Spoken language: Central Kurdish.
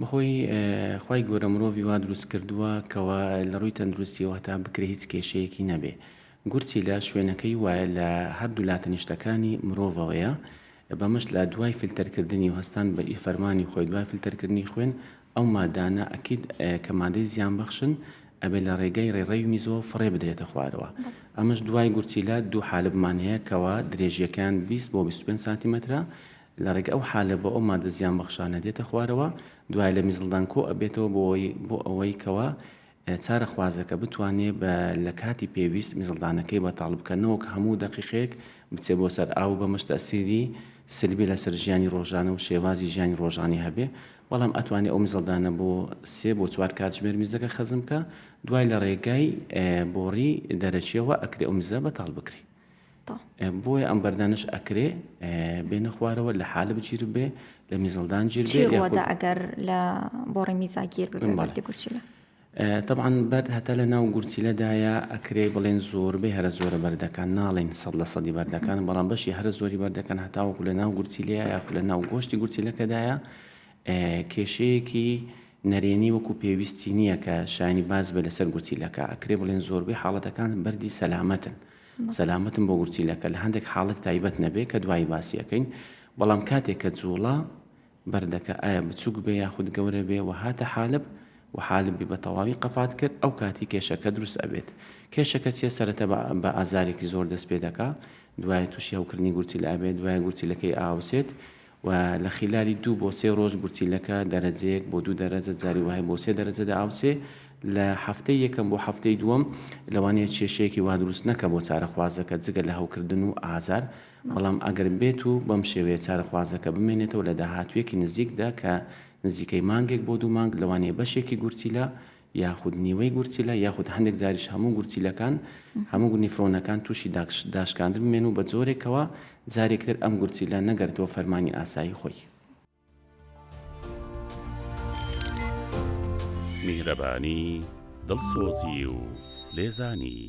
بەخۆی خوای گەورە مرۆڤی وا دروست کردووە کەوا لەڕووی تەندروستیەوە هەتا بکرێ هیچ کێشەیەکی نەبێ گورچیلە شوێنەکەی وایە لە هەردوو لا تەنیشتەکانی مرۆڤەوەیە بەمەش لا دوای فلتەر کردنی و هەستان بە ئی فەرمانی خۆی دوای فلتەر کردنی خوێن ئەو مادانە ئەکید کە مادەی زیان بەخشن ئەبێ لە ڕێگەی ڕێڕەوی میزەوە فڕێ بدرێتە خوارەوە ئەمەش دوای گورچیلە دوو حالبمان هەیە کەوا درێژیەکەیان 20 بۆ 25 سانتیمەترە لە ڕێگە ئەو حالە بۆ ئەو مادە زیان بەخشانە دێتە خوارەوە دوای لە میزڵدان کۆ ئەبێتەوە بۆی بۆ ئەوەی کەوا چارە خوازەکە بتوانێ بە لە کاتی پێویست میزڵدانەکەی بەتاڵ بکە نەوەک هەموو دەقیقێک بچێ بۆ سەر ئاو بەمەش تەسیری سلبی لەسەر ژیانی ڕۆژانە و شێوازی ژیانی ڕۆژانی هەبێ بەڵام ئەتوانێ ئەو میزڵدانە بۆ سێ بۆ چوار کاتژمێر میزەکە خەزم بکە دوای لە ڕێگای بۆڕی دەرەکیەوە ئەکرێ ئەو میزە بەتاڵ بکری تە. بۆیە ئەم بەردانەش ئەکرێ بێنە خوارەوە لە حالب گیر بێ لە میزەڵدان گیر بێ چی ڕوەدا ئەگەر لە بۆڕی میزا گیر ببێ بەڵێ. بەردی گورچیلە؟ طبعا بەرد هەتا لە ناو گورچیلەدایە ئەکرێ بڵێن زۆربەی هەرە زۆرە بەردەکان ناڵێن سەد لە سەدی بەردەکان بەڵام بەشی هەرە زۆری بەردەکان هەتاوەکو لە ناو گورچیلەیە یاخود لە ناو گۆشتی گورچیلەکەدایە ئێ، کێشەیەکی نەرێنی وەکو پێویستی نییە کە شایانی باس بێ لەسەر گورچیلەکە ئەکرێ بڵێن زۆربەی حاڵەتەکان بەردی سەلامەتن. سەلامەتم بۆ گورچیلەکە لە هەندێک حاڵەتی تایبەت نەبێ کە دوایی باسی ئەکەین بەڵام کاتێک کە جووڵە بەردەکە ئایا بچووک بێ یاخود گەورە بێ و هاتە حالب و حالب بی بە تەواوی قەپات کرد ئەو کاتی کێشەکە دروست ئەبێت کێشەکە چیە سەرەتا بە ئازارێکی زۆر دەست پێ دەکا دوایە تووشی هەوکردنی گورچیلە ئەبێت دوایە گورچیلەکەی ئاوسێت و لە خیلالی دوو بۆ سێ ڕۆژ گورچیلەکە دەرەجەیەک بۆ دوو دەرەجە جاری وەهای بۆ سێ دەرەجە دەئاوسێ لە هەفتەی یەکەم بۆ هەفتەی دووەم لەوانەیە کێشەیەکی وا دروست نەکا بۆ چارەخوازەکە جگە لە هەوکردن و ئازار بەڵام ئەگەر بێت و بەم شێوەیە چارەخوازەکە بمێنێتەوە لە داهاتوویەکی نزیکدا کە نزیکەی مانگێک بۆ دوو مانگ لەوانەیە بەشێکی گورچیلە یاخود نیوەی گورچیلە یاخود هەندێک جاریش هەموو گورچیلەکان هەموو گونی فرۆنەکان تووشی داشکاندن بمێن و بە جۆرێکەوە جارێکتر ئەم گورچیلە نەگەردووە فەرمانی ئاسایی خۆی. میهرەبانی، دڵسۆزی و لێزانی.